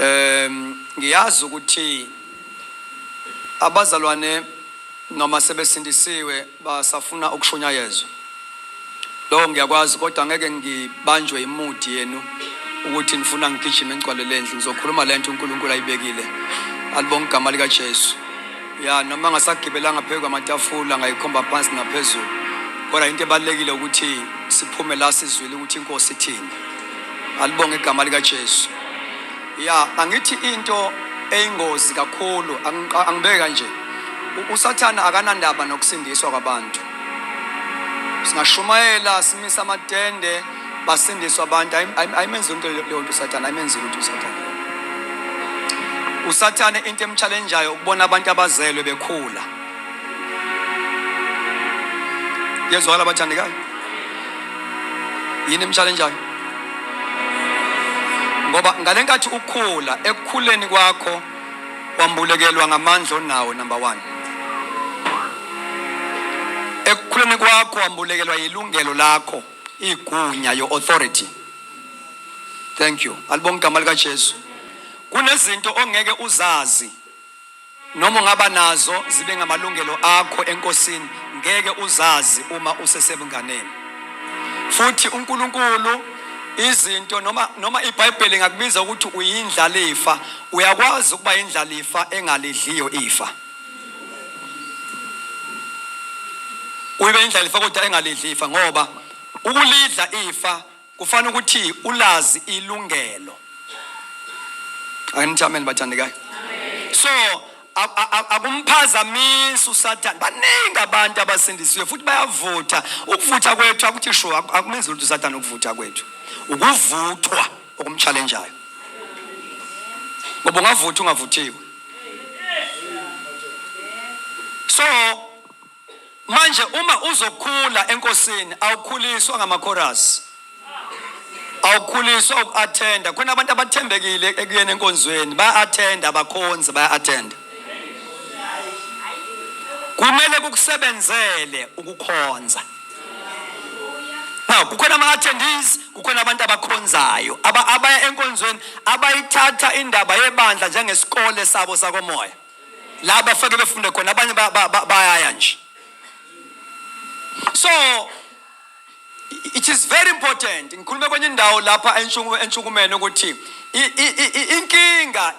Um ngiyazi ukuthi abazalwane noma sebesindisiwe basafuna ukushunyayezwa lokho ngiyakwazi kodwa ngeke ngibanjwe imudi yenu ukuthi nifuna ngigijime ngigcwale le ndlu ngizokhuluma le nto unkulunkulu ayibekile alibonga igama likajesu ya noma ngasagibelanga phezu kwamatafula ngayikhomba phansi naphezulu kodwa into ebalulekile ukuthi siphume la sizwile ukuthi inkosi ithini Alibonge igama likaJesu. Ya, angithi into eyingozi kakhulu angibeka nje. USathane akanandaba nokusindiswa kwabantu. Singashumayela simisa amatende basindiswa abantu ayimenzi into leyo nto uSathane ayimenzi lutho uSathane. USathane into emchallenge ukubona abantu abazelwe bekhula. yezwakala abathandekayo yini emshalenjayo ngoba ngale nkathi ukhula ekukhuleni kwakho wambulekelwa ngamandla onawo number one ekukhuleni kwakho wambulekelwa yilungelo lakho igunya your authority thank you alibonga igama likajesu kunezinto ongeke uzazi Noma ungaba nazo zibe ngamalungelo akho enkosini, ngeke uzazi uma usesebunganeni. Futhi uNkulunkulu izinto noma noma iBhayibheli ngakubiza ukuthi uyindlalifa, uyakwazi ukuba indlalifa engalidliyo ifa. Uyibe indlalifa kodwa engalidlifa ngoba ukulidla ifa Kufanele ukuthi ulazi ilungelo. Angithi amen bathandekayo. So akumphazamisi usathane baningi abantu abasindisiwe futhi bayavutha ukuvutha kwethu akuthi sho akumenzi lutho usathane ukuvutha kwethu ukuvuthwa okumtshalenjayo ngoba ungavuthi ungavuthiwe so manje uma uzokhula enkosini awukhuliswa ngamakhorasi awukhuliswa uku-athenda khona abantu abathembekile ekuyena enkonzweni baya-athenda abakhonzi baya-athenda kumele kukusebenzele ukukhonza now kukhona ama-attendees kukhona abantu abakhonzayo abaya enkonzweni abayithatha indaba yebandla njengesikole sabo sakomoya la bafake befunde khona abanye bayaya nje so it is very important ngikhulume kwenye indawo lapha entshukumeni ukuthi inkinga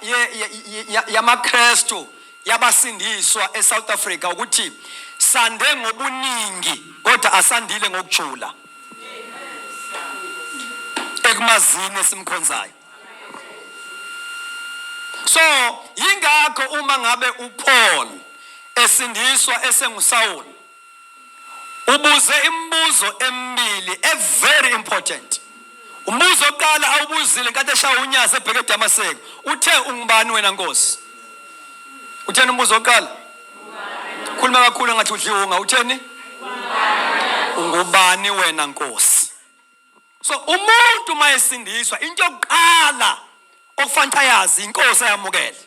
yamakrestu yabasindiswa esouth africa ukuthi sande ngobuningi kodwa asandile ngokujula ekumazini esimkhonzayo so yingakho uma ngabe uPaul esindiswa esengusawuli ubuze imibuzo emibili every important umbuzo oqala awubuzile nkathi eshaya unyazi ebheke edamaseko uthe ungubani wena nkosi utheni umbuzo oqala khuluma kakhulu ngathi udliwunga utheni ungubani wena nkosi so umuntu uma esindiswa into yokuqala okufanele ayazi inkosi ayamukele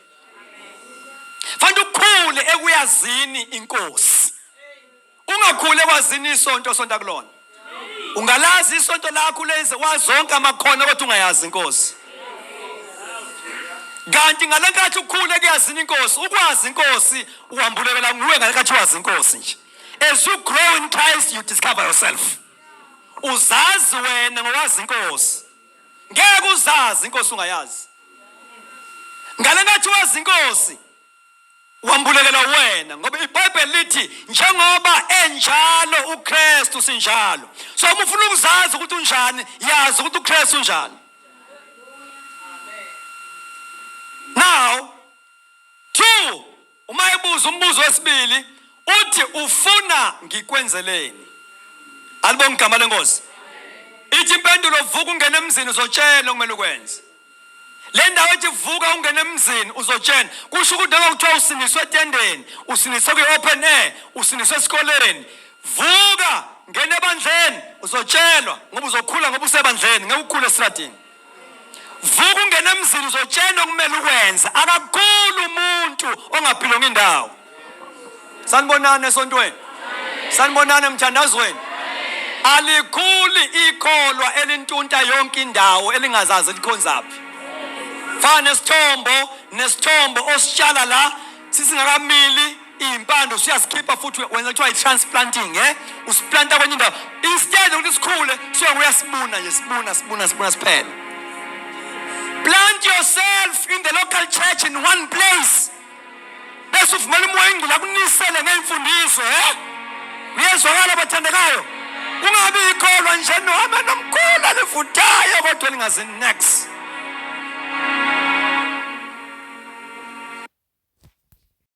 fanele ukhule ekuyazini inkosi ungakhule kwazini isonto osonta kulona ungalazi isonto lakho lenze wazonke amakhono kodwa ungayazi inkosi kanti ngale nkathi ukhule kuyazini inkosi ukwazi inkosi uhambulekela nguwe ngale nkathi wazi inkosi nje as you grow in christ you discover yourself uzazi wena ngowazi inkosi ngeke uzazi inkosi ungayazi ngale ngathi wazi inkosi wambulekela wena ngoba ibhayibheli lithi njengoba enjalo ukristu sinjalo so uma ufuna ukuzazi ukuthi unjani yazi ukuthi ukristu unjani now two Uma ebuza umbuzo wesibili uthi ufuna ngikwenzeleni. Alibonga igama lenkosi. Ithi impendulo vuka ungena emzini uzotshela okumele ukwenze. Le ndawo ethi vuka ungena emzini uzotshena kusho ukuthi noma kuthiwa usiniswe etendeni usiniswe kwi-open air usiniswe esikoleni vuka ngena ebandleni uzotshelwa ngoba uzokhula ngoba usebandleni ngeke ukhule esitradini vuka ungena emzini uzotshena okumele ukwenze akakhulu umuntu ongaphilonga indawo sanibonani esontweni sanibonani emthandazweni alikhuli ikholwa elintunta yonke indawo elingazazi likhonzaphi fana nesithombo nesithombo ositshala la sisingakamili iy'mpande usuyazikhipha futhi wenza kuthiwa i-transplanting e usiplanta kwenye indawo instead ukuthi sikhule suke uyasibuna nje sibuna sibuna sibuna siphele plant yourself in the local church in one place bese uvumela umoya ingcula kunisele ngey'mfundiso e uyezwakala bathandekayo kungabi yikholwa nje nohamba nomkhulu alivuthayo kodwa elingazi next